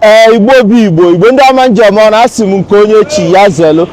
ee igbo bụ igbo igbo ndị ọma njem ọ na-asị m nke onye chi ya zelu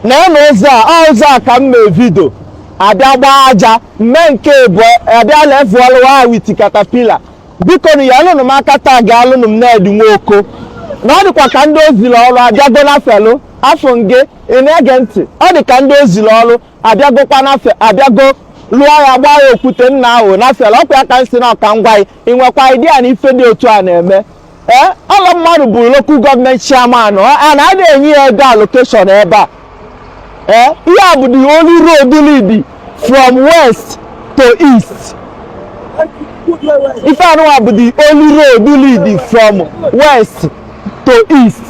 na-ene ụzọ a ọ ụzọ a ka m mee video a bịa gbaa aja mmee nke bụ a bịa levelụọ ya with caterpillar biko nyelụnụ m aka taagịalụnụ m Ned Nwoko na ọ dịkwa ka ndị o zili ọrụ abịago na felu afọ nge ị na-ege ntị ọ dị ka ndị o zili ọrụ abịagokwa na fe abịago lụọ ya gbaa ya okwute nna ahụ na felu ọkwa ya ka m si na ọka ngwa anyị ị nwekwa idea na ife dị otu a na-eme ee ọlọ mmadụ bụ local government chairman a na a na-enye ya ego allocation ebe a ee ihe a bụ the only road lead from west to east ife anụnwa bụ the only road lead from west to east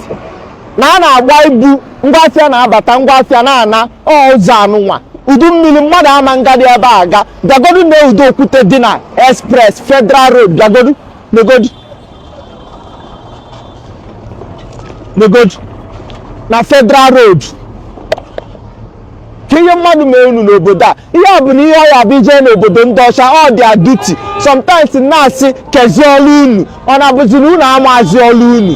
na a na-agba ibu ngwa afịa na-abata ngwa afịa na-ana ọ ụzọ anụnwa udu mmiri mmadụ ama ngadị ebe a aga bịagodu nee ụdị okwute dị na express federal road bịagodu negodu negodu na federal road kee ihe mmadụ mee unu n'obodo a ihe ọ bụla ihe ọ ya-abụ i je n'obodo ndị ọcha ọ dị duty sometimes na-asị kezi ọrụ unu ọ na-abụzi na unu amazi ọrụ unu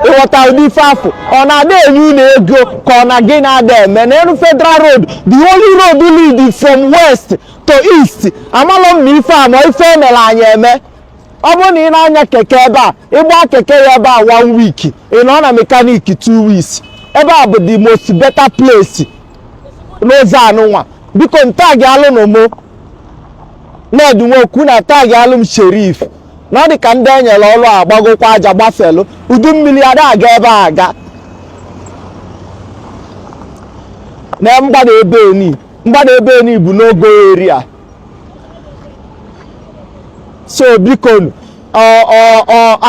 ị ghọta ụdị ife afụ ọ na ada enye unu ego ka ọ na gị na-ada eme na elu federal road the only road lead from west to east amalọ m na ife a ma ife e mere anyị eme ọ bụrụ na ị na-anya keke ebe a ị gbaa keke ya ebe a one week ị nọ na mechanic two weeks ebe a bụ the most better place n'ụzọ anụnwa bikonu taagịalụnụ mụ Ned Nwoko na taagịalụ m Sheriff na ọ dị ka ndị e nyere ọrụ a gbagokwa aja gbafelu udu mmiri ada aga ebe a aga na mgbada ebe ni mgbada ebe ni bụ no go area so biko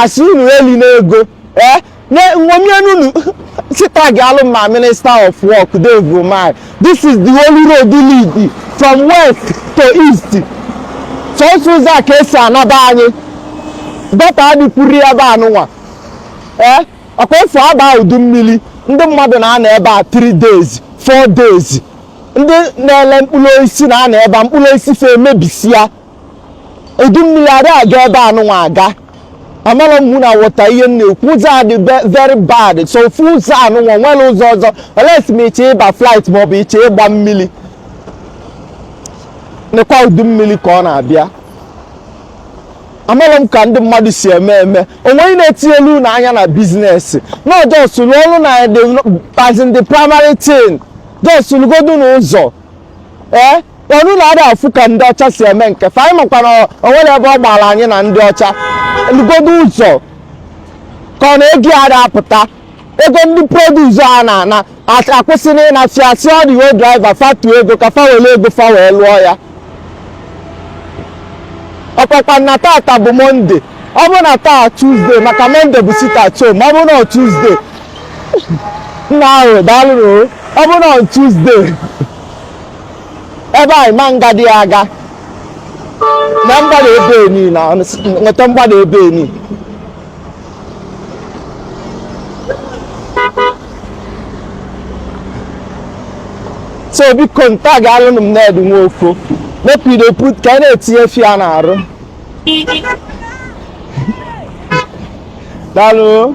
asị unu elina ego ee eh? nṅomienunu sị taagịalụ m Minister of Work Dave Umahi this is the only road lead from west to east sọsọ ụzọ a ka e si anaba anyị dọta adịkwuru ya ebe anụnwa ee ọkwa ofu a baa udu mmiri ndị mmadụ na-anọ ebe a 3 days 4 days ndị na-ele mkpụrụ osisi na-anọ ebe a mkpụrụ osisi fa emebisia udu mmiri ada aga ebe anụnwa aga amarọ m na ị wọta ihe m na-ekwu ụzọ a dị ve- very bad sọ ofu ụzọ anụnwa enwerọ ụzọ ọzọ unless ma ị chọ ịba flight maọbụ ị chọ ịgba mmiri nekwa udu mmiri ka ọ na-abịa amarọ m ka ndị mmadụ si eme eme o nweghị na-etinyelu unu anya na business na ọ just lụọ ọrụ na the as in the primary thing just lụgodu n'ụzọ ee ọ na unu ada afụ ka ndị ọcha si eme nke fa anyị makwa na o nwere ebe ọ gbara anyị na ndị ọcha lụgodu ụzọ ka ọ na ego ada apụta ego ndị produce a na-ana at- akwụsị na ịna fia si ọ dị wo driver fatu ego ka fa were ego fa wee lụọ ya ọkpakpa na tata bụ Monday ọ bụrụ na taa Tuesday maka Monday bụ sit at home ọ bụrụ na ọ Tuesday nna ahụ daalụnụ ọ bụrụ na Tuesday ebe anyị ma nga dị aga na mgbada ebe enyi na nweta mgbada ebe enyi so biko nta ga-alụnụ m Nedu nwoke mepido put ka a na-etinye fia na arụ daalụ